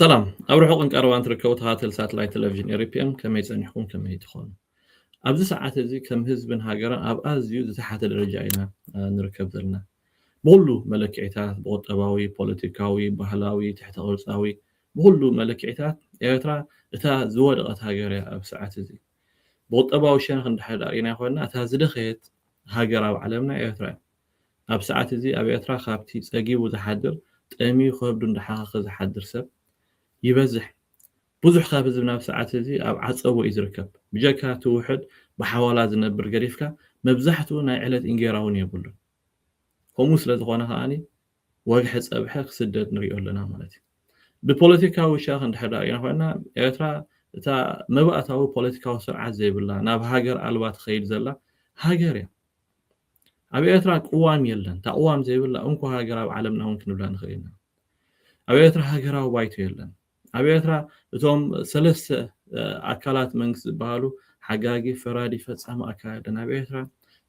ሰላም ኣብ ርሑቅን ቀረባን ትርከቡ ተካተል ሳትላይት ተለቪዥን ኤሪፒኤም ከመይ ጸኒሕኩም ከመይ ትኾኑ ኣብዚ ሰዓት እዚ ከም ህዝብን ሃገርን ኣብ ኣዝዩ ዝተሓተ ደረጃ ኢና ንርከብ ዘለና ብኩሉ መለክዒታት ብቁጠባዊ ፖለቲካዊ ባህላዊ ትሕተ ቅርጻዊ ብኩሉ መለክዒታት ኤርትራ እታ ዝወደቐት ሃገር እያ ኣብ ሰዓት እዚ ብቑጠባዊ ሸነኽ እንድሕር ደኣ ርኢናዮ ኮይንና፣ እታ ዝደኸየት ሃገር ኣብ ዓለምና ኤርትራ እያ። ኣብ ሰዓት እዚ ኣብ ኤርትራ ካብቲ ጸጊቡ ዝሓድር፣ ጠምዩ ከብዱ እንዳሓኸኸ ዝሓድር ሰብ ይበዝሕ። ብዙሕ ካብ ህዝብና ኣብዚ ሰዓት እዚ ኣብ ዓጸቦ እዩ ዝርከብ። ብጀካ እቲ ውሑድ ብሓዋላ ዝነብር ገዲፍካ፣ መብዛሕትኡ ናይ ዕለት እንጌራ'ውን የብሉን። ከምኡ ስለ ዝኾነ ከኣ፣ ወግሐ ጸብሐ ክስደድ ንሪኦ ኣለና ማለት እዩ። ብፖለቲካዊ ሻኽ እንድሕር ደኣ ርኢና ኮይንና፣ ኤርትራ እታ መባእታዊ ፖለቲካዊ ስርዓት ዘይብላ፣ ናብ ሃገር ኣልባ ትኸይድ ዘላ ሃገር እያ። ኣብ ኤርትራ ቅዋም የለን። እታ ቅዋም ዘይብላ እንኮ ሃገር ኣብ ዓለምና እውን ክንብላ ንኽእል ኢና። ኣብ ኤርትራ ሃገራዊ ባይቶ የለን። ኣብ ኤርትራ እቶም ሰለስተ ኣካላት መንግስቲ ዝበሃሉ፣ ሓጋጊ፣ ፈራዲ፣ ፈጻሚ ኣካል'የን። ኣብ ኤርትራ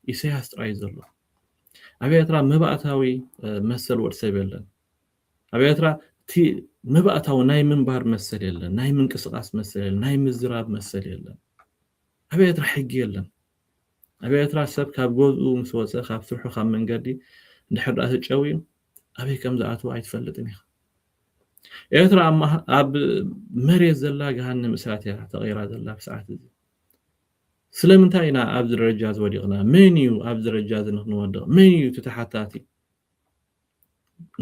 ኢሰያስ ጥራይ'ዩ ዘሎ። ኣብ ኤርትራ መባእታዊ መሰል ወድሰብ የለን። ኣብ ኤርትራ እቲ መባእታዊ ናይ ምንባር መሰል የለን፣ ናይ ምንቅስቓስ መሰል የለን፣ ናይ ምዝራብ መሰል የለን። ኣብ ኤርትራ ሕጊ የለን። ኣብ ኤርትራ ሰብ ካብ ገዝኡ ምስ ወጸ ካብ ስርሑ ካብ መንገዲ እንድሕር ድኣ ተጨውዩ ኣበይ ከም ዝኣትው ኣይትፈልጥን ኢኻ። ኤርትራ ኣብ መሬት ዘላ ገሃነም እሳት እያ ተቐይራ ዘላ ኣብ ሰዓት እዚ። ስለምንታይ ኢና ኣብዚ ደረጃ እዚ ወዲቕና? መን እዩ ኣብዚ ደረጃ እዚ ንክንወድቕ መን እዩ እቲ ተሓታቲ?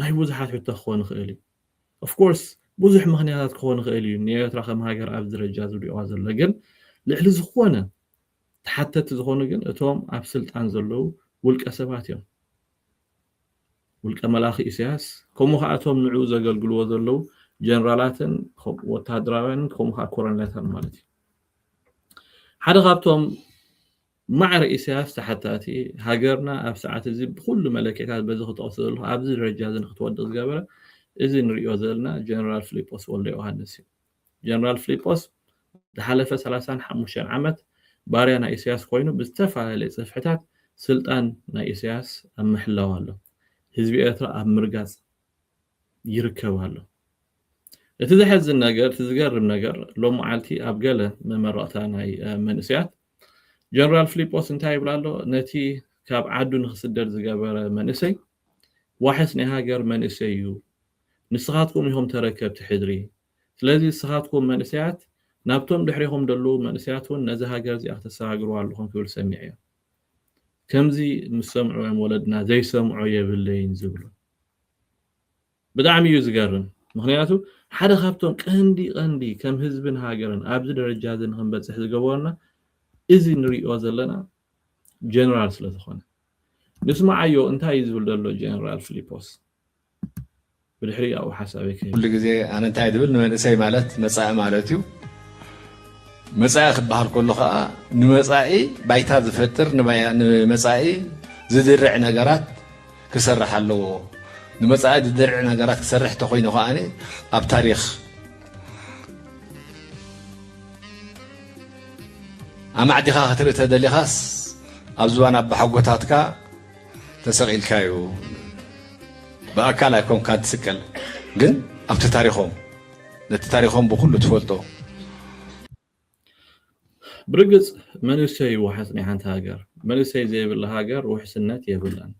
ናይ ብዙሓት ሕቶ ክኾን ይኽእል እዩ። ኦፍኮርስ ብዙሕ ምኽንያታት ክኾን ይኽእል እዩ ንኤርትራ ከም ሃገር ኣብዚ ደረጃ እዚ ውዲቑዋ ዘሎ ግን ልዕሊ ዝኾነ ተሓተቲ ዝኾኑ ግን እቶም ኣብ ስልጣን ዘለዉ ውልቀ ሰባት እዮም። ውልቀ መላኺ ኢሳያስ ከምኡ ከኣ እቶም ንዕኡ ዘገልግልዎ ዘለዉ ጀነራላትን ወተሃደራውያንን ከምኡ ከኣ ኮረኔላትን ማለት እዩ። ሓደ ካብቶም ማዕረ ኢሳያስ ተሓታቲ ሃገርና ኣብ ሰዓት እዚ ብኩሉ መለክዒታት በዚ ክጠቕሶ ዘለኹ ኣብዚ ደረጃ እዚ ንክትወድቕ ዝገበረ እዚ ንርእዮ ዘለና ጀነራል ፍሊጶስ ወልደዮውሃንስ እዩ። ጀነራል ፍሊጶስ ዝሓለፈ ሰላሳን ሓሙሽተን ዓመት ባርያ ናይ ኢሰያስ ኮይኑ ብዝተፈላለየ ጽፍሕታት ስልጣን ናይ ኢሰያስ ኣብ ምሕላው ኣሎ። ህዝቢ ኤርትራ ኣብ ምርጋጽ ይርከብ ኣሎ። እቲ ዘሕዝን ነገር እቲ ዝገርም ነገር ሎምዓልቲ ኣብ ገለ መመረቕታ ናይ መንእሰያት ጀነራል ፍሊጶስ እንታይ ይብል ኣሎ ነቲ ካብ ዓዱ ንክስደድ ዝገበረ መንእሰይ ዋሕስ ናይ ሃገር መንእሰይ እዩ ንስኻትኩም ኢኹም ተረከብቲ ሕድሪ ስለዚ ንስኻትኩም መንእሰያት ናብቶም ድሕሬኹም ደለዉ መንእሰያት ውን ነዛ ሃገር እዚኣ ክተሰጋግርዋ ኣለኹም ክብል ሰሚዐዮ። ከምዚ ምስ ሰምዑ እዮም ወለድና ዘይሰምዖ የብለይን ዝብሉ። ብጣዕሚ እዩ ዝገርም ምኽንያቱ ሓደ ካብቶም ቀንዲ ቀንዲ ከም ህዝብን ሃገርን ኣብዚ ደረጃ እዚ ንኽንበጽሕ ዝገበሩና እዚ ንርእዮ ዘለና ጀነራል ስለ ዝኾነ። ንስማዓዮ እንታይ እዩ ዝብል ዘሎ ጀነራል ፍሊጶስ። ብድሕሪኡ ኣብኡ ሓሳበይ ክህብ ኩሉ ግዜ ኣነ እንታይ ድብል ንመንእሰይ ማለት መጻኢ ማለት እዩ መጻኢ ክበሃል ከሎ ከዓ ንመጻኢ ባይታ ዝፈጥር ንመጻኢ ዝድርዕ ነገራት ክሰርሕ ኣለዎ ንመጻኢ ዝድርዕ ነገራት ክሰርሕ እንተኮይኑ ከዓ ኣብ ታሪክ ኣማዕዲኻ ክትርኢ ተደሊኻስ ኣብ ዝባን ኣባሓጎታትካ ተሰቂልካ እዩ ብኣካል ኣይኮንካን ትስቀል ግን ኣብቲ ታሪኾም ነቲ ታሪኾም ብኩሉ ትፈልጦ። ብርግጽ መንእሰይ እዩ ዋሕስ ናይ ሓንቲ ሃገር መንእሰይ ዘይብላ ሃገር ውሕስነት የብላን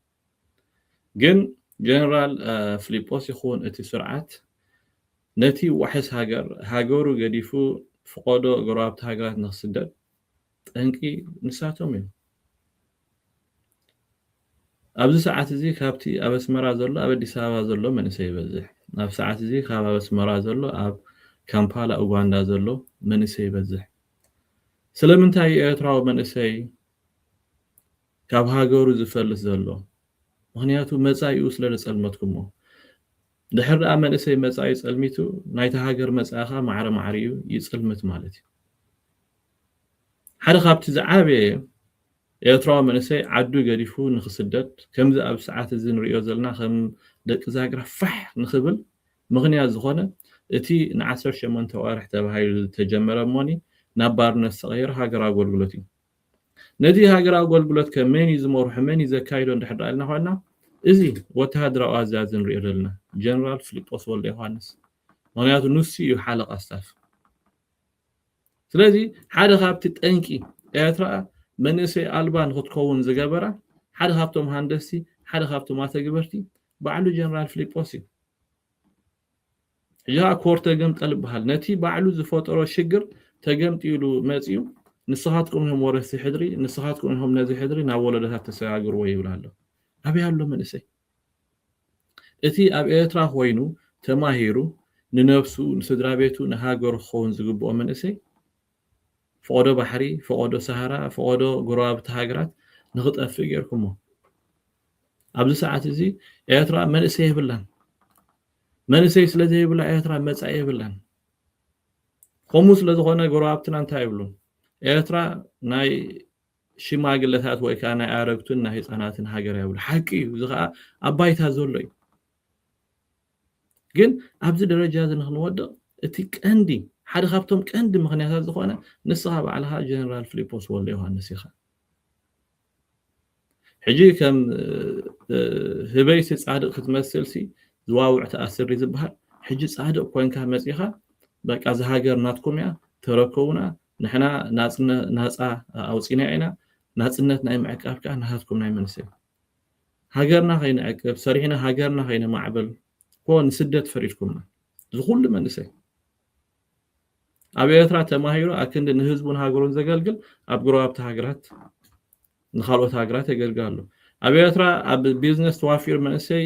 ግን ጀነራል ፍሊጶስ ይኹን እቲ ስርዓት ነቲ ዋሕስ ሃገር ሃገሩ ገዲፉ ፍቆዶ ጎረባብቲ ሃገራት ንክስደድ ጠንቂ ንሳቶም እዮም። ኣብዚ ሰዓት እዚ ካብቲ ኣብ ኣስመራ ዘሎ ኣብ ኣዲስ ኣበባ ዘሎ መንእሰይ ይበዝሕ። ኣብ ሰዓት እዚ ካብ ኣብ ኣስመራ ዘሎ ኣብ ካምፓላ ኡጋንዳ ዘሎ መንእሰይ ይበዝሕ። ስለምንታይ እዩ ኤርትራዊ መንእሰይ ካብ ሃገሩ ዝፈልስ ዘሎ? ምክንያቱ መጻኢኡ ስለ ዘጸልመትኩሞ። ድሕር ደኣ መንእሰይ መጻኢ ጸልሚቱ ናይታ ሃገር መጻኢ ከኣ ማዕረ ማዕሪኡ ይጽልምት ማለት እዩ። ሓደ ካብቲ ዝዓበየ ኤርትራዊ መንእሰይ ዓዱ ገዲፉ ንኽስደድ ከምዚ ኣብዚ ሰዓት እዚ ንርእዮ ዘለና ከም ደቂ ዛግራ ፋሕ ንኽብል ምኽንያት ዝኾነ እቲ ን ዓሰርተ ሸሞንተ ኣዋርሕ ተባሂሉ ዝተጀመረ እሞኒ ናብ ባርነት ዝተቐየረ ሃገራዊ ኣጎልጉሎት እዩ። ነዚ ሃገራዊ ኣጎልጉሎት ከ መን እዩ ዝመርሖ መን እዩ ዘካይዶ እንድሕር ደኣ ኢልና ኾይንና እዚ ወተሃደራዊ ኣዛዚ ንርእዮ ዘለና ጀነራል ፍሊጶስ ወልደዮሃንስ ምኽንያቱ ንሱ እዩ ሓለቓ ስታፍ። ስለዚ ሓደ ካብቲ ጠንቂ ኤርትራ መንእሰይ ኣልባ ንክትከውን ዝገበራ ሓደ ካብቶም ሃንደስቲ ሓደ ካብቶም ኣተግበርቲ ባዕሉ ጀነራል ፍሊጶስ እዩ። ሕጂ ኮር ተገምጠል ይበሃል ነቲ ባዕሉ ዝፈጠሮ ሽግር ተገምጢሉ መጺኡ ንስኻትኩም ኢኹም ወረስቲ ሕድሪ ንስኻትኩም ኢኹም ነዚ ሕድሪ ናብ ወለዶታት ተሰጋግርዎ ይብል ኣሎ። ኣበይ ኣሎ መንእሰይ? እቲ ኣብ ኤርትራ ኮይኑ ተማሂሩ ንነብሱ ንስድራቤቱ ንሃገሩ ክኸውን ዝግብኦ መንእሰይ ፈቖዶ ባሕሪ ፈቖዶ ሳሃራ ፈቖዶ ጎረባብቲ ሃገራት ንኽጠፍእ ጌርኩሞ ኣብዚ ሰዓት እዚ ኤርትራ መንእሰይ የብላን መንእሰይ ስለ ዘይብላ ኤርትራ መጻኢ የብላን ከምኡ ስለ ዝኾነ ጎረባብትና እንታይ ይብሉ ኤርትራ ናይ ሽማግለታት ወይ ከኣ ናይ ኣረግቱን ናይ ህጻናትን ሃገር ኣይብሉ ሓቂ እዩ እዚ ከኣ ኣብ ባይታ ዘሎ እዩ ግን ኣብዚ ደረጃ እዚ ንክንወድቕ እቲ ቀንዲ ሓደ ካብቶም ቀንዲ ምክንያታት ዝኾነ ንስኻ ባዕልኻ ጀነራል ፍሊጶስ ወልደ ዮሃንስ ኢኻ ሕጂ ከም ህበይሲ ጻድቅ ክትመስልሲ ዝዋውዕ ተኣስሪ ዝበሃል ሕጂ ጻድቅ ኮንካ መጺኻ በቃ እዚ ሃገር ናትኩም እያ ተረከቡና ንሕና ናጻ ኣውጺእናዮ ኢና፣ ናጽነት ናይ ምዕቃብ ከኣ ናታትኩም ናይ መንስ እዩ? ሃገርና ከይንዕቅብ፣ ሰሪሕና ሃገርና ከይነማዕብል እኮ ንስደት ፈሪድኩምና። እዚ ኩሉ መንእሰይ ኣብ ኤርትራ ተማሂሩ ኣክንዲ ንህዝቡን ሃገሩን ዘገልግል ኣብ ጎረባብቲ ሃገራት ንካልኦት ሃገራት የገልግል ኣሎ ኣብ ኤርትራ ኣብ ቢዝነስ ተዋፊሩ መንእሰይ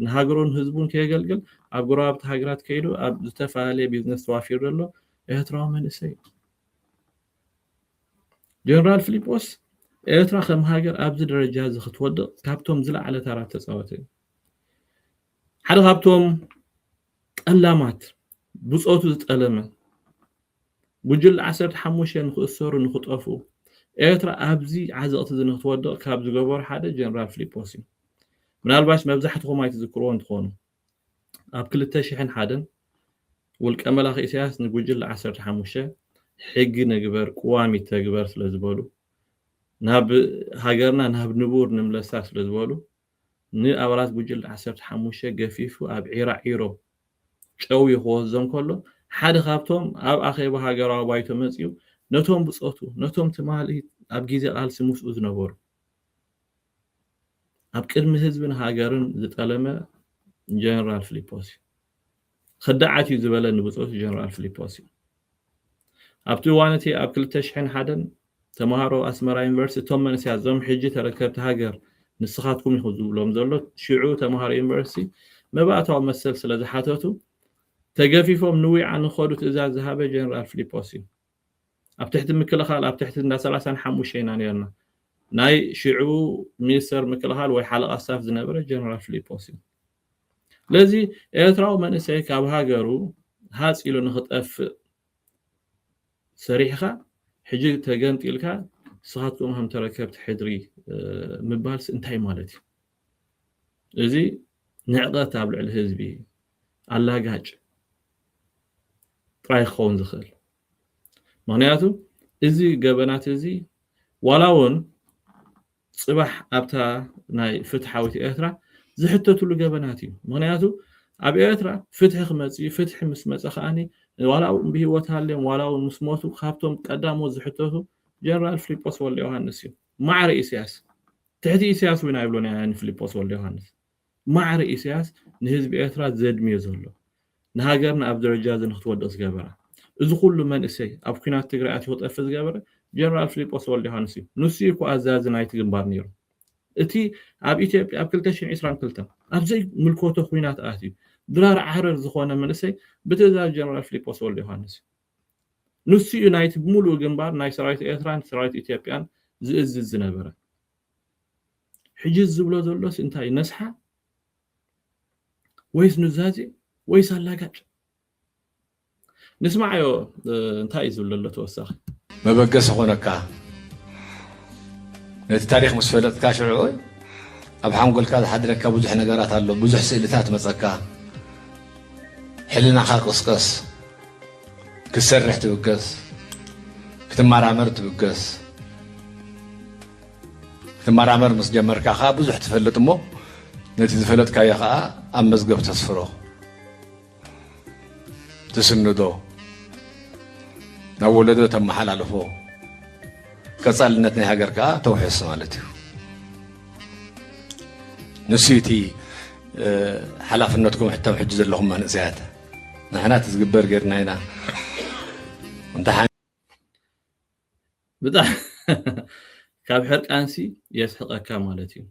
ንሃገሩን ህዝቡን ከየገልግል ኣብ ጎረባብቲ ሃገራት ከይዱ ኣብ ዝተፈላለየ ቢዝነስ ተዋፊሩ ዘሎ ኤርትራዊ መንእሰይ እዩ ጀነራል ፊሊጶስ ኤርትራ ከም ሃገር ኣብዚ ደረጃ እዚ ክትወድቕ ካብቶም ዝለዓለ ታራ ተፃወተ እዩ ሓደ ካብቶም ጠላማት ብፆቱ ዝጠለመ ጉጅለ ዓሰርተ ሓሙሽተ ንክእሰሩ ንክጠፍኡ ኤርትራ ኣብዚ ዓዘቅቲ እዚ ንክትወድቅ ካብ ዝገበሩ ሓደ ጀነራል ፍሊጶስ እዩ ምናልባሽ መብዛሕትኹም ኣይትዝክርዎን ትኾኑ ኣብ ክልተ ሽሕን ሓደን ውልቀ መላኺ ኢሳያስ ንጉጅለ ዓሰርተ ሓሙሽተ ሕጊ ንግበር ቅዋም ይተግበር ስለዝበሉ ናብ ሃገርና ናብ ንቡር ንምለሳ ስለዝበሉ ንኣባላት ጉጅለ ዓሰርተ ሓሙሽተ ገፊፉ ኣብ ዒራዒሮ ጨውዩ ክወስዶም ከሎ፣ ሓደ ካብቶም ኣብ ኣኼባ ሃገራዊ ባይቶ መጺኡ ነቶም ብጾቱ፣ ነቶም ትማሊ ኣብ ግዜ ቃልሲ ምስኡ ዝነበሩ፣ ኣብ ቅድሚ ህዝብን ሃገርን ዝጠለመ ጀነራል ፍሊጶስ እዩ። ኽዳዓት እዩ ዝበለኒ ብጹእ ጀነራል ፍሊጶስ እዩ። ኣብቲ እዋን እቲ ኣብ ክልተ ሽሕን ሓደን ተማሃሮ ኣስመራ ዩኒቨርሲቲ እቶም መንእሰያት እዞም ሕጂ ተረከብቲ ሃገር ንስኻትኩም ኢኹም ዝብሎም ዘሎ ሽዑ ተማሃሮ ዩኒቨርሲቲ መባእታዊ መሰል ስለ ዝሓተቱ ተገፊፎም ንዊዓ ንኸዱ ትእዛዝ ዝሃበ ጀነራል ፍሊጶስ እዩ። ኣብ ትሕቲ ምክልኻል ኣብ ትሕቲ እንዳ ሰላሳን ሓሙሽተ ኢና ኔርና። ናይ ሽዑ ሚኒስተር ምክልኻል ወይ ሓለቓ ስታፍ ዝነበረ ጀነራል ፍሊጶስ እዩ። ስለዚ ኤርትራዊ መንእሰይ ካብ ሃገሩ ሃጽ ኢሉ ንኽጠፍእ ሰሪሕኻ ሕጂ ተገምጢልካ ንስኻትኩም ከም ተረከብቲ ሕድሪ ምባልሲ እንታይ ማለት እዩ? እዚ ንዕቐት ኣብ ልዕሊ ህዝቢ ኣላጋጭ ጥራይ ክኸውን ዝኽእል ምኽንያቱ እዚ ገበናት እዚ ዋላ እውን ጽባሕ ኣብታ ናይ ፍትሓዊት ኤርትራ ዝሕተትሉ ገበናት እዩ ምኽንያቱ ኣብ ኤርትራ ፍትሒ ክመጽእ እዩ ፍትሒ ምስ መጸ ከኣ ዋላ ውን ብሂወት ሃልዮም ዋላ ውን ምስ ሞቱ ካብቶም ቀዳሞት ዝሕተቱ ጀነራል ፍሊጶስ ወልደዮሃንስ እዩ ማዕረ ኢሰያስ ትሕቲ ኢሰያስ ውን ኣይብሉን ኣያኒ ፍሊጶስ ወልደዮሃንስ ማዕረ ኢሰያስ ንህዝቢ ኤርትራ ዘድምዮ ዘሎ ንሃገርና ኣብዚ ደረጃ እዚ ንክትወድቅ ዝገበራ እዚ ኩሉ መንእሰይ ኣብ ኩናት ትግራይ ኣትዩ ክጠፍእ ዝገበረ ጀነራል ፍሊጶስ ወልደዮሃንስ እዩ ንሱ እዩ እኮ ኣዛዚ ናይቲ ግንባር ኔሩ እቲ ኣብ ኢትዮጵያ ኣብ ክልተ ሽሕን ዒስራን ክልተን ኣብ ዘይ ምልኮቶ ኩናት ኣትዩ ድራር ዓረር ዝኮነ መንእሰይ ብትእዛዝ ጀነራል ፍሊጶስ ወልደዮሃንስ እዩ ንሱ እዩ ናይቲ ብምሉኡ ግንባር ናይ ሰራዊት ኤርትራን ሰራዊት ኢትዮጵያን ዝእዝዝ ዝነበረ ሕጂ ዝብሎ ዘሎስ እንታይ እዩ ነስሓ ወይስ ኑዛዜ ወይስ ኣላጋጭ ንስማዓዮ እንታይ እዩ ዝብል ዘሎ ተወሳኺ መበገሲ ኮነካ ነቲ ታሪክ ምስ ፈለጥካ ሽዑ ኣብ ሓንጎልካ ዝሓድረካ ብዙሕ ነገራት ኣሎ ብዙሕ ስእልታት መፀካ ሕልናኻ ቅስቀስ ክትሰርሕ ትብገስ፣ ክትመራመር ትብገስ። ክትመራመር ምስ ጀመርካ ከዓ ብዙሕ ትፈልጥ እሞ ነቲ ዝፈለጥካዮ ከዓ ኣብ መዝገብ ተስፍሮ ትስንዶ ናብ ወለዶ ተመሓላልፎ ቀፃልነት ናይ ሃገር ከዓ ተውሕስ ማለት እዩ ንሱ እቲ ሓላፍነትኩም ሕቶም ሕጂ ዘለኹም መንእሰያት ንሕና እቲ ዝግበር ጌርና ኢና እንተ ካብ ሕርቃንሲ የስሕቀካ ማለት እዩ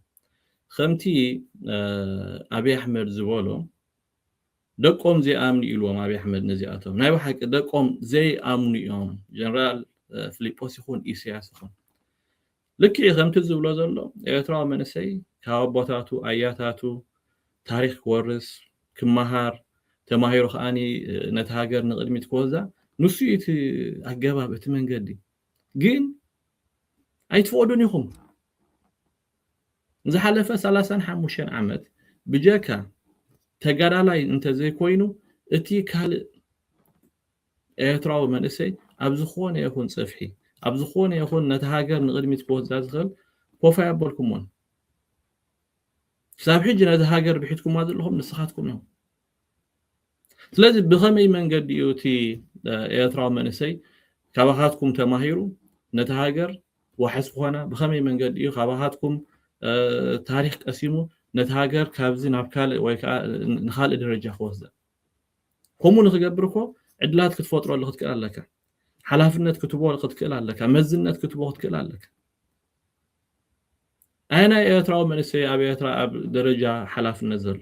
ከምቲ ኣብዪ ኣሕመድ ዝበሎ ደቆም ዘይኣምኑ ኢልዎም ኣብዪ ኣሕመድ ነዚኣቶም ናይ ብሓቂ ደቆም ዘይኣምኑ እዮም ጀነራል ፍሊጶስ ይኹን ኢሳያስ ይኹን ልክዕ እዩ ከምቲ ዝብሎ ዘሎ ኤርትራዊ መንእሰይ ካብ ኣቦታቱ ኣያታቱ ታሪኽ ክወርስ ክመሃር ተማሂሩ ከኣኒ ነቲ ሃገር ንቕድሚት ክወስዳ ንሱ እዩ እቲ ኣገባብ እቲ መንገዲ ግን ኣይትፈቕዱን ኢኹም ዝሓለፈ ሰላሳን ሓሙሽተን ዓመት ብጀካ ተጋዳላይ እንተዘይኮይኑ እቲ ካልእ ኤርትራዊ መንእሰይ ኣብ ዝኾነ ይኹን ጽፍሒ ኣብ ዝኾነ ይኹን ነታ ሃገር ንቕድሚት ክወስዳ ዝኽእል ኮፍ ኣየበልኩሞን። ክሳብ ሕጂ ነዛ ሃገር ብሒትኩማ ዘለኹም ንስኻትኩም ኢኹም። ስለዚ ብኸመይ መንገዲ እዩ እቲ ኤርትራዊ መንእሰይ ካባኻትኩም ተማሂሩ ነታ ሃገር ዋሕስ ክኾና ብኸመይ መንገዲ እዩ ካባኻትኩም ታሪኽ ቀሲሙ ነቲ ሃገር ካብዚ ናብ ካልእ ወይ ከዓ ንካልእ ደረጃ ክወስዳ ከምኡ ንክገብር እኮ ዕድላት ክትፈጥረሉ ክትክእል ኣለካ ሓላፍነት ክትቦ ክትክእል ኣለካ መዝነት ክትቦ ክትክእል ኣለካ ኣየናይ ኤርትራዊ መንእሰይ ኣብ ኤርትራ ኣብ ደረጃ ሓላፍነት ዘሎ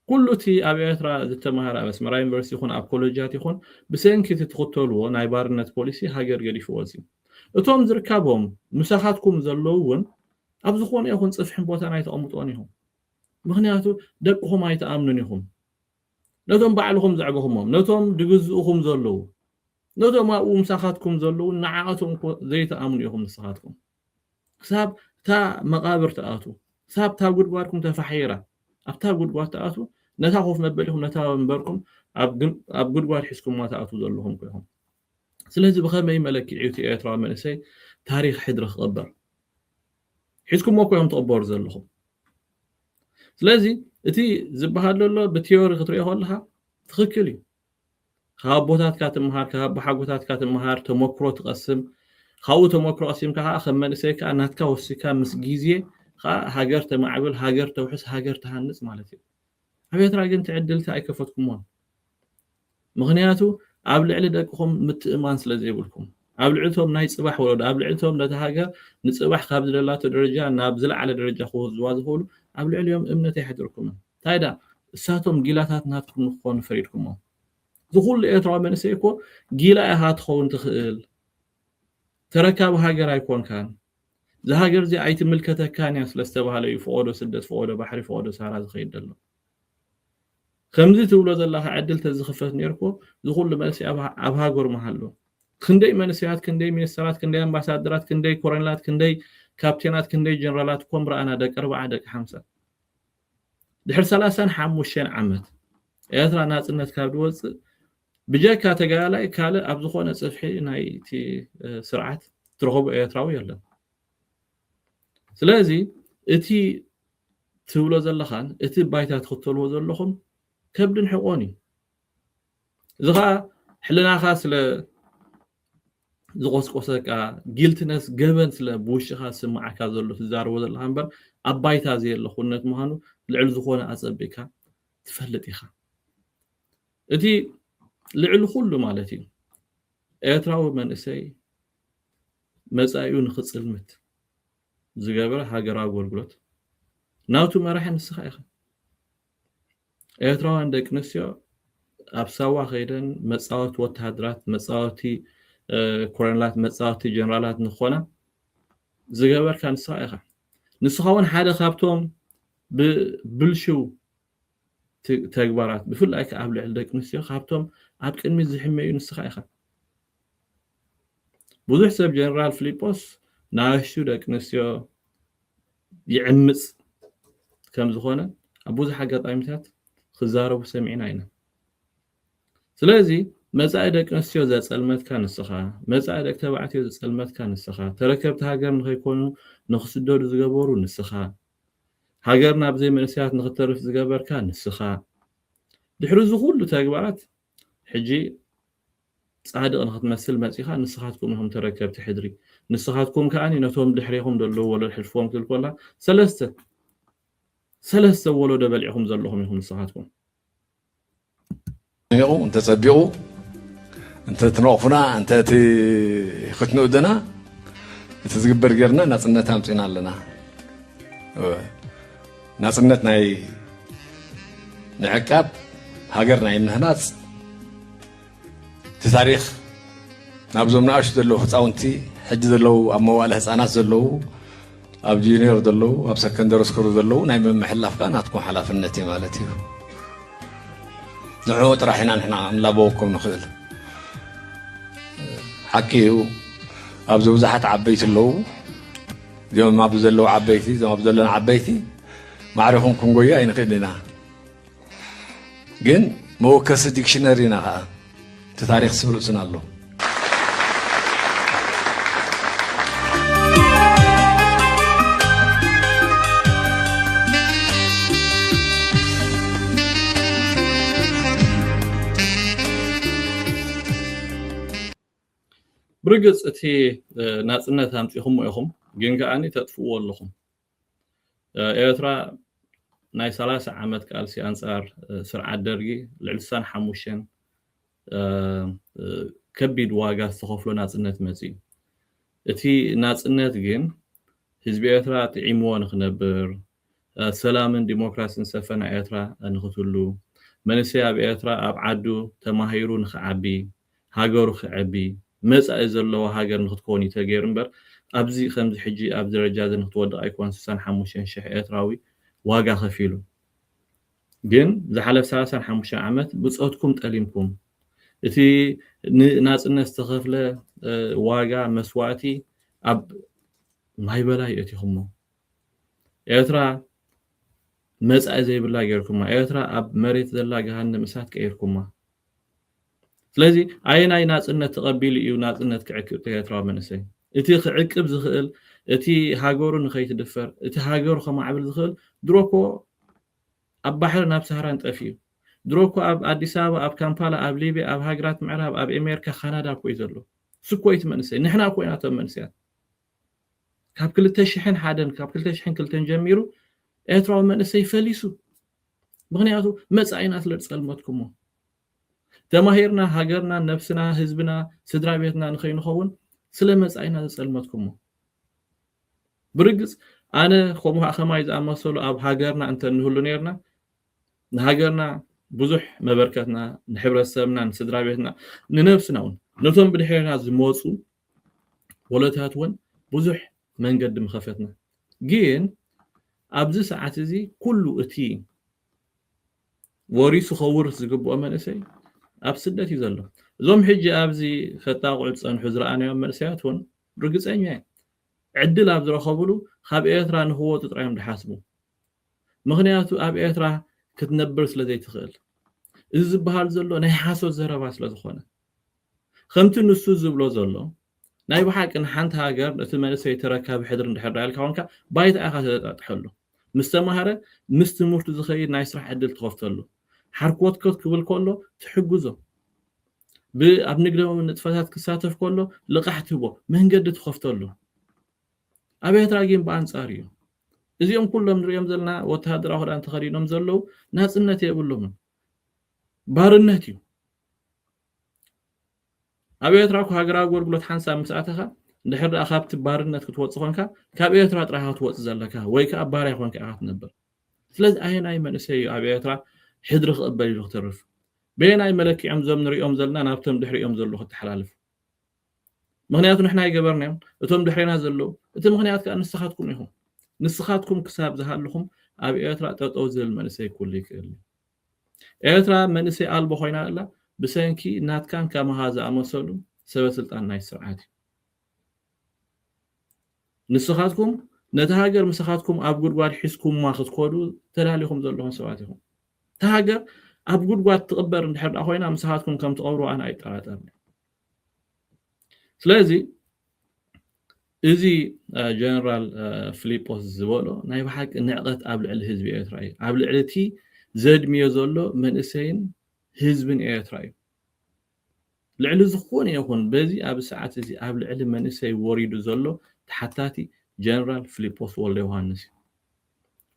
ኩሉ እቲ ኣብ ኤርትራ ዝተማሃረ ኣብ ኣስመራ ዩኒቨርሲቲ ይኹን ኣብ ኮለጃት ይኹን ብሰንኪ እቲ ትኽተልዎ ናይ ባርነት ፖሊሲ ሃገር ገዲፍዎ ዝዩ እቶም ዝርካቦም ምሳኻትኩም ዘለዉ እውን ኣብ ዝኾነ ይኹን ፅፍሕን ቦታ ናይ ተቐምጦን ኢኹም ምኽንያቱ ደቅኹም ኣይትኣምኑን ኢኹም። ነቶም ባዕልኹም ዘዕበኹሞም፣ ነቶም ድግዝኡኹም ዘለዉ፣ ነቶም ኣብኡ ምሳኻትኩም ዘለዉ ንዓኣቶም እኮ ዘይትኣምኑ ኢኹም ንስኻትኩም። ክሳብ እታ መቓብር ትኣትዉ፣ ክሳብ እታ ጉድጓድኩም ተፋሒራ ኣብታ ጉድጓድ ትኣትዉ፣ ነታ ኮፍ መበሊኹም ነታ ወንበርኩም ኣብ ጉድጓድ ሒዝኩማ ትኣትዉ ዘለኹም እኮ ኢኹም። ስለዚ ብኸመይ መለክዒ እዩ እቲ ኤርትራዊ መንእሰይ ታሪኽ ሕድሪ ክቕበር? ሒዝኩሞ እኮ እዮም ትቕበሩ ዘለኹም ስለዚ እቲ ዝበሃል ዘሎ ብቲዮሪ ክትሪኦ ከለኻ ትኽክል እዩ ካብ ኣቦታትካ ትምሃር ካብ ኣቦሓጎታትካ ትምሃር ተመክሮ ትቐስም ካብኡ ተመክሮ ቀሲምካ ከዓ ከም መንእሰይ ከዓ ናትካ ወሲካ ምስ ግዜ ከዓ ሃገር ተማዕብል ሃገር ተውሕስ ሃገር ትሃንፅ ማለት እዩ ኣብ ኤርትራ ግን ትዕድልቲ ኣይከፈትኩሞን ምኽንያቱ ኣብ ልዕሊ ደቅኹም ምትእምማን ስለ ዘይብልኩም። ኣብ ልዕሊ እቶም ናይ ጽባሕ ወለዶ፣ ኣብ ልዕሊ እቶም ነታ ሃገር ንጽባሕ ካብ ዝደላቶ ደረጃ ናብ ዝለዓለ ደረጃ ክወስድዋ ዝኽእሉ፣ ኣብ ልዕሊኦም እምነት ኣይሓደርኩምን። እንታይ ደኣ እሳቶም ጊላታት ናትኩም ንክኾኑ ፈሪድኩሞም። እዚ ኩሉ ኤርትራዊ መንእሰይ እኮ ጊላ ኢኻ ትኸውን ትኽእል። ተረካቢ ሃገር ኣይኮንካን። እዛ ሃገር እዚኣ ኣይትምልከተካን እያ ስለ ዝተባህለ እዩ ፍቖዶ ስደት ፍቖዶ ባሕሪ ፍቖዶ ሳህራ ዝኸይድ ዘሎ። ከምዚ ትብሎ ዘለኻ ዕድል ተዝኽፈት ኔርኩ ዝኹሉ መልሲ ኣብ ሃገሩ ምሃሉ። ክንደይ መንሰያት ክንደይ ሚኒስተራት ክንደይ ኣምባሳደራት ክንደይ ኮረኔላት ክንደይ ካፕቴናት ክንደይ ጀነራላት እኮ ምረኣና ደቂ ኣርብዓ ደቂ ሓምሳ። ድሕሪ ሰላሳን ሓሙሽተን ዓመት ኤርትራ ናጽነት ካብ ድወጽእ ብጀካ ተጋዳላይ ካልእ ኣብ ዝኾነ ጽፍሒ ናይቲ ስርዓት ትረኽቦ ኤርትራዊ የለን። ስለዚ እቲ ትብሎ ዘለኻን እቲ ባይታ ትኽተልዎ ዘለኹም ከብድን ሕቖን እዩ። እዚ ኸኣ ሕልናኻ ስለ ዝቖስቆሰካ ጊልትነስ ገበን ስለ ብውሽኻ ዝስምዓካ ዘሎ ትዛረቦ ዘለኻ እምበር ኣብ ባይታ ዘየለ ኩነት ምዃኑ ልዕሊ ዝኾነ ኣጸቢቕካ ትፈልጥ ኢኻ። እቲ ልዕሊ ኩሉ ማለት እዩ ኤርትራዊ መንእሰይ መጻኢኡ ንኽጽልምት ዝገብረ ሃገራዊ ኣጎልጉሎት ናቱ መራሒ ንስኻ ኢኻ። ኤርትራውያን ደቂ ኣንስትዮ ኣብ ሳዋ ከይደን መጻወቲ ወተሃደራት፣ መጻወቲ ኮሎኔላት፣ መጻወቲ ጀነራላት ንኾና ዝገበርካ ንስኻ ኢኻ። ንስኻ እውን ሓደ ካብቶም ብብልሽው ተግባራት ብፍላይ ከዓ ኣብ ልዕሊ ደቂ ኣንስትዮ ካብቶም ኣብ ቅድሚት ዝሕመዩ ንስኻ ኢኻ። ብዙሕ ሰብ ጀነራል ፍሊጶስ ንኣሽቱ ደቂ ኣንስትዮ ይዕምጽ ከም ዝኾነ ኣብ ብዙሕ ኣጋጣሚታት ክዛረቡ ሰሚዕና ኢና ስለዚ መጻኢ ደቂ ኣንስትዮ ዘጸልመትካ ንስኻ መጻኢ ደቂ ተባዕትዮ ዘጸልመትካ ንስኻ ተረከብቲ ሃገር ንኸይኮኑ ንኽስደዱ ዝገበሩ ንስኻ ሃገርና ብዘይ መንእሰያት ንኽተርፍ ዝገበርካ ንስኻ ድሕሪ እዚ ኩሉ ተግባራት ሕጂ ጻድቅ ንክትመስል መጺካ ንስካትኩም ኢኩም ተረከብቲ ሕድሪ ንስካትኩም ከኣ ነቶም ድሕሬኩም ዘለዉ ወለዶ ሕልፍዎም ክብል ኮላ ሰለስተ ሰለስተ ወለዶ በልዒኩም ዘለኩም ኢኩም ንስካትኩም ኒቁ እንተ ጸቢቁ እንተ ትነቅፉና እንተ ክትንእዱና እቲ ዝግበር ጌርና ናጽነት ኣምጺና ኣለና ናጽነት ናይ ምዕቃብ ሃገር ናይ ምህናጽ እቲ ታሪኽ ናብዞም ንኣሽቱ ዘለዉ ህፃውንቲ ሕጂ ዘለዉ ኣብ መዋእለ ህፃናት ዘለዉ ኣብ ጁኒየር ዘለዉ ኣብ ሰከንደሪ ስኩል ዘለዉ ናይ ምምሕላፍ ከዓ ናትኩም ሓላፍነት እዩ ማለት እዩ ንዕኡ ጥራሕ ኢና ንሕና ንላበወኩም ንኽእል ሓቂ እዩ ኣብዚ ብዙሓት ዓበይቲ ኣለዉ እዚኦም ኣብዚ ዘለዉ ዓበይቲ እዞም ኣብ ዘለና ዓበይቲ ማዕሪኹም ክንጎዩ ኣይንኽእል ኢና ግን መወከሲ ዲክሽነሪ ኢና ከዓ እቲ ታሪክ ስብ ርእስና ኣሎ ብርግጽ እቲ ናጽነት ኣምጺኹሞ ኢኹም ግን ከኣ ተጥፍእዎ ኣለኹም ኤርትራ ናይ ሰላሳ ዓመት ቃልሲ ኣንጻር ስርዓት ደርጊ ልዕሊ ስሳን ሓሙሽተን ከቢድ ዋጋ ዝተኸፍሎ ናጽነት መጽዩ እቲ ናጽነት ግን ህዝቢ ኤርትራ ጥዒምዎ ንክነብር ሰላምን ዲሞክራሲን ሰፈና ኤርትራ ንክትሉ መንእሰይ ኣብ ኤርትራ ኣብ ዓዱ ተማሂሩ ንክዓቢ ሃገሩ ክዐቢ መጻኢ ዘለዋ ሃገር ንክትከውን እዩ ተገይሩ እምበር ኣብዚ ከምዚ ሕጂ ኣብዚ ደረጃ እዚ ንክትወድቅ ኣይኮን ስሳን ሓሙሽተን ሽሕ ኤርትራዊ ዋጋ ከፊሉ ግን ዝሓለፍ ሰላሳን ሓሙሽተን ዓመት ብጾትኩም ጠሊምኩም እቲ ንናጽነት ዝተኸፍለ ዋጋ መስዋእቲ ኣብ ማይበላይ የእቲኹሞ ኤርትራ መጻኢ ዘይብላ ገይርኩማ ኤርትራ ኣብ መሬት ዘላ ገሃነም እሳት ቀይርኩማ ስለዚ ኣየናይ ናጽነት ተቐቢሉ እዩ ናጽነት ክዕቅብ እቲ ኤርትራዊ መንእሰይ? እቲ ክዕቅብ ዝኽእል፣ እቲ ሃገሩ ንኸይትድፈር፣ እቲ ሃገሩ ከማዕብል ዝኽእል ድሮ እኮ ኣብ ባሕርን ኣብ ሳህራን ጠፊኡ። ድሮ እኮ ኣብ ኣዲስ ኣበባ፣ ኣብ ካምፓላ፣ ኣብ ሊብያ፣ ኣብ ሃገራት ምዕራብ፣ ኣብ ኤሜርካ፣ ካናዳ እኮ እዩ ዘሎ። እሱ እኮ እዩ እቲ መንእሰይ። ንሕና እኮ ኢና እቶም መንእሰያት። ካብ ክልተ ሽሕን ሓደን ካብ ክልተ ሽሕን ክልተን ጀሚሩ ኤርትራዊ መንእሰይ ፈሊሱ። ምክንያቱ መጻኢና ስለ ዝጸልመትኩሞ። ተማሂርና ሃገርና ነብስና ህዝብና ስድራቤትና ንኸይንኸውን ስለ መጻኢና ዘጸልመትኩሞ ብርግጽ ኣነ ከምኡ ከማይ ዝኣመሰሉ ኣብ ሃገርና እንተ ንህሉ ነርና ንሃገርና ብዙሕ መበርከትና ንሕብረተሰብና ንስድራቤትና ንነብስና እውን ነቶም ብድሕርና ዝመጹ ወለታት እውን ብዙሕ መንገዲ ምኸፈትና ግን ኣብዚ ሰዓት እዚ ኩሉ እቲ ወሪሱ ከውርስ ዝግብኦ መንእሰይ ኣብ ስደት እዩ ዘሎ እዞም ሕጂ ኣብዚ ከጣቕዑ ዝጸንሑ ዝረኣናዮም መንእሰያት ውን ርግጸኛ እየ ዕድል ኣብ ዝረኸብሉ ካብ ኤርትራ ንክወጹ ጥራይ እዮም ዝሓስቡ ምኽንያቱ ኣብ ኤርትራ ክትነብር ስለ ዘይትኽእል እዚ ዝበሃል ዘሎ ናይ ሓሶት ዘረባ ስለ ዝኾነ ኸምቲ ንሱ ዝብሎ ዘሎ ናይ ብሓቂ ንሓንቲ ሃገር እቲ መንእሰይ ተረካቢ ሕድሪ እንድሕር ደኣ ኢልካ ኮንካ ባይታ ኢኻ ተለጣጥሐሉ ምስ ተማህረ ምስ ትምህርቱ ዝኸይድ ናይ ስራሕ ዕድል ትኸፍተሉ ሓርኮትኮት ክብል ከሎ ትሕግዞ ብ ኣብ ንግዳዊ ንጥፈታት ክሳተፍ ከሎ ልቓሕ ትህቦ መንገዲ ትኸፍተሉ ኣብ ኤርትራ ግን ብኣንጻር እዩ እዚኦም ኩሎም ንሪኦም ዘለና ወተሃደራዊ ክዳን ተኸዲኖም ዘለዉ ናጽነት የብሎምን ባርነት እዩ ኣብ ኤርትራ እኮ ሃገራዊ ኣገልግሎት ሓንሳብ ምስ ኣተኻ እንድሕር ደኣ ካብቲ ባርነት ክትወጽእ ኮንካ ካብ ኤርትራ ጥራይ ኢኻ ክትወጽእ ዘለካ ወይ ከኣ ባርያ ኮንካ ኢኻ ክትነብር ስለዚ ኣየናይ መንእሰይ እዩ ኣብ ኤርትራ ሕድሪ ክቕበል ኢሉ ክትርፍ በየናይ መለክዕዮም እዞም ንሪኦም ዘለና ናብቶም ድሕሪኦም ዘለዉ ክተሓላልፉ ምክንያቱ ንሕና ኣይገበርናዮም እቶም ድሕሬና ዘለዉ እቲ ምክንያት ከዓ ንስኻትኩም ኢኹም ንስኻትኩም ክሳብ ዝሃለኹም ኣብ ኤርትራ ጠጠው ዝብል መንእሰይ ኩሉ ይክእል ኤርትራ መንእሰይ ኣልቦ ኮይና ኣላ ብሰንኪ ናትካን ከማኻ ዝኣመሰሉን ሰበስልጣን ናይቲ ስርዓት እዩ። ንስኻትኩም ነታ ሃገር ምሳኻትኩም ኣብ ጉድጓድ ሒዝኩማ ክትኮዱ ተዳሊኹም ዘለኹም ሰባት ኢኹም። እታ ሃገር ኣብ ጉድጓድ ትቕበር እንድሕር ኮይና ምሳኻትኩም ከም ትቐብርዋ ኣነ ኣይጠራጠርን። ስለዚ እዚ ጀነራል ፍሊጶስ ዝበሎ ናይ ብሓቂ ንዕቐት ኣብ ልዕሊ ህዝቢ ኤርትራ እዩ ኣብ ልዕሊ እቲ ዘድምዮ ዘሎ መንእሰይን ህዝብን ኤርትራ እዩ ልዕሊ ዝኾነ ይኹን በዚ ኣብ ሰዓት እዚ ኣብ ልዕሊ መንእሰይ ወሪዱ ዘሎ ተሓታቲ ጀነራል ፍሊጶስ ወልደ ዮሃንስ እዩ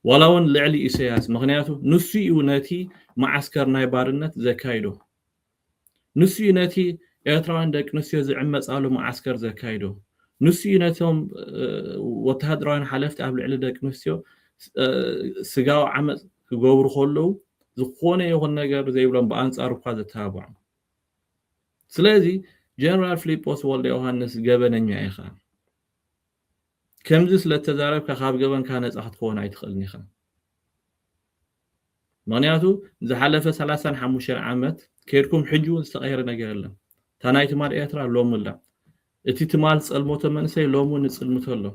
ዋላ እውን ልዕሊ ኢሰያስ ምክንያቱ ንሱ እዩ ነቲ መዓስከር ናይ ባርነት ዘካይዶ ንሱ እዩ ነቲ ኤርትራውያን ደቂ ኣንስትዮ ዝዕመጻሉ መዓስከር ዘካይዶ። ንሱ እዩ ነቶም ወተሃደራውያን ሓለፍቲ ኣብ ልዕሊ ደቂ ኣንስትዮ ስጋዊ ዓመጽ ክገብሩ ከለዉ ዝኾነ ይኹን ነገር ዘይብሎም ብኣንጻሩ እኳ ዘተባብዖም። ስለዚ ጀነራል ፍሊጶስ ወልደዮሃንስ ገበነኛ ኢኻ። ከምዚ ስለ እተዛረብካ ካብ ገበንካ ነጻ ክትከውን ኣይትኽእልን ኢኻ። ምክንያቱ ዝሓለፈ ሰላሳን ሓሙሽተን ዓመት ከድኩም ሕጂ ውን ዝተቀየረ ነገር የለን እታ ናይ ትማል ኤርትራ ሎሚ ኣላ እቲ ትማል ዝጸልመቶ መንእሰይ ሎሚ ውን ይጽልምቶ ኣሎ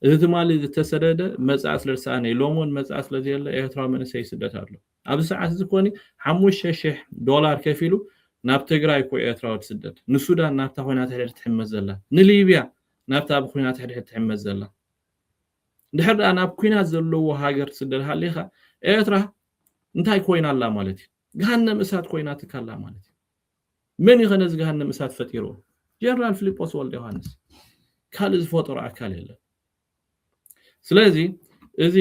እቲ ትማሊ ዝተሰደደ መጻኢ ስለ ዝሰኣነ እዩ ሎሚ ውን መጻኢ ስለ ዘየለ ኤርትራዊ መንእሰይ ይስደት ኣሎ ኣብዚ ሰዓት እዚ ኮኒ ሓሙሽተ ሽሕ ዶላር ከፊሉ ናብ ትግራይ እኮ ኤርትራዊ ትስደድ ንሱዳን ናብታ ኮይና ትሕድሕድ ትሕመስ ዘላ ንሊብያ ናብታ ብኩናት ትሕድሕድ ትሕመስ ዘላ ድሕር ድኣ ናብ ኩናት ዘለዎ ሃገር ትስደድ ሃሊኻ ኤርትራ እንታይ ኮይና ኣላ ማለት እዩ ገሃነም እሳት ኮይና ትካላ ማለት እዩ መን እዩ ከነዚ ገሃነም እሳት ፈጢርዎ ጀነራል ፊልጶስ ወልደ ዮሃንስ ካልእ ዝፈጠሮ ኣካል የለን ስለዚ እዚ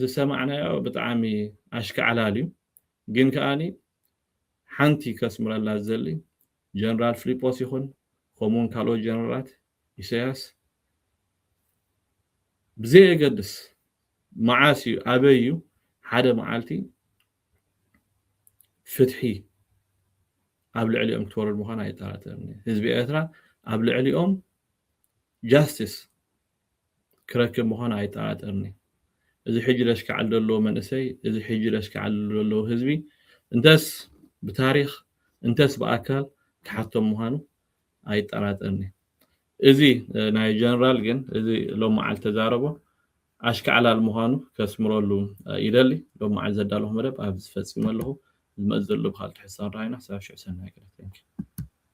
ዝሰማዕናዮ ብጣዕሚ ኣሽካዕላል እዩ ግን ከዓኒ ሓንቲ ከስምረላ ዝደሊ ጀነራል ፍሊጶስ ይኹን ከምኡ ውን ካልኦት ጀነራላት ኢሰያስ ብዘየገድስ መዓስ እዩ ኣበይ እዩ ሓደ መዓልቲ ፍትሒ ኣብ ልዕሊኦም ክትወርድ ምዃና ኣይጠራጠርን ህዝቢ ኤርትራ ኣብ ልዕሊኦም ጃስቲስ ክረክብ ምዃኑ ኣይጠራጠርን'የ። እዚ ሕጂ ለሽካዕል ደሎ መንእሰይ፣ እዚ ሕጂ ለሽካዕል ደሎ ህዝቢ፣ እንተስ ብታሪኽ እንተስ ብኣካል ክሓቶም ምዃኑ ኣይጠራጠርን'የ። እዚ ናይ ጀነራል ግን እዚ ሎም መዓልቲ ተዛረቦ ኣሽካዕላል ምዃኑ ከስምረሉ ይደሊ። ሎም መዓልቲ ዘዳለኹ መደብ ኣብዚ ፈጺመ ኣለኹ። ዝመጽእ ዘሎ ብካልእ ትሕዝቶ ክንራኸብ ኢና። ክሳብ ሽዑ ሰናይ ቀትሪ። Thank you።